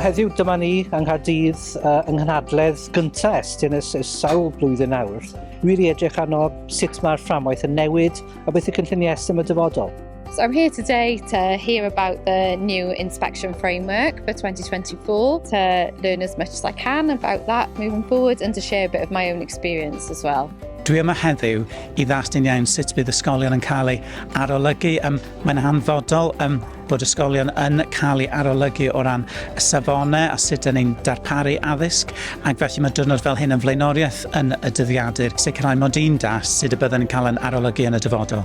heddiw dyma ni yng Nghaerdydd uh, yng nghynhadledd gyntaf Estyn ys, ys sawl blwyddyn nawr. Wir i edrych arno sut mae'r fframwaith yn newid a beth y cynlluniau Estyn y dyfodol. So I'm here today to hear about the new inspection framework for 2024, to learn as much as I can about that moving forward and to share a bit of my own experience as well. Dwi yma heddiw i ddastyn iawn sut bydd ysgolion yn cael ei arolygu. Um, mae'n hanfodol um, bod ysgolion yn cael ei arolygu o ran y safonau a sut yn ein darparu addysg ac felly mae dyrnod fel hyn yn flaenoriaeth yn y dyddiadur sicrhau mod i'n das sut y byddwn yn cael yn arolygu yn y dyfodol.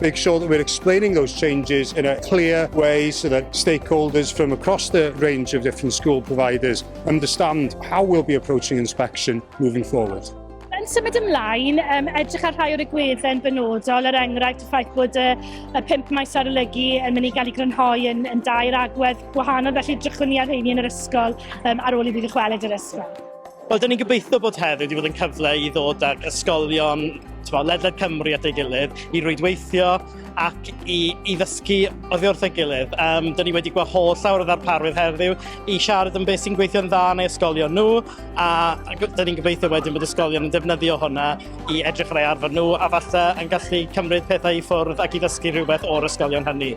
make sure that we're explaining those changes in a clear way so that stakeholders from across the range of different school providers understand how we'll be approaching inspection moving forward. Yn symud ymlaen, um, edrych ar rhai o'r egwydden benodol, er enghraifft y ffaith bod y, y pimp maes arolygu yn mynd i gael ei grynhoi yn, yn dair agwedd gwahanol, felly drychwn ni ar rheini yn yr ysgol um, ar ôl i fi ddychwelyd yr ysgol. Wel, dyn ni'n gobeithio bod heddiw wedi bod yn cyfle i ddod ag ysgolion twa, ledled Cymru at ei gilydd, i rwydweithio ac i, i ddysgu oddi wrth ei gilydd. Um, dyn ni wedi gweld holl llawer o ddarparwydd heddiw i siarad am beth sy'n gweithio'n dda yn ei ysgolion nhw, a dyn ni'n gobeithio wedyn bod ysgolion yn defnyddio hwnna i edrych ar ei arfer nhw, a falle yn gallu cymryd pethau i ffwrdd ac i ddysgu rhywbeth o'r ysgolion hynny.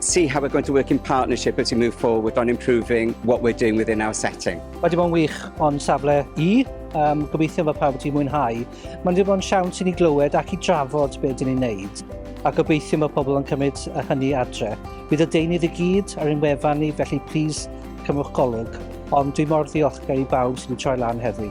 see how we're going to work in partnership as we move forward on improving what we're doing within our setting. Mae wedi bod yn wych o'n safle i, um, gobeithio fod pawb wedi mwynhau. Mae'n wedi bod yn siawns i ni glywed ac i drafod beth dyn ni'n neud, a gobeithio mae pobl yn cymryd y hynny adre. Bydd y deunydd i gyd ar ein wefan ni, felly plis cymwch golwg, ond dwi mor ddiolchgar i bawb sydd wedi troi lan heddi.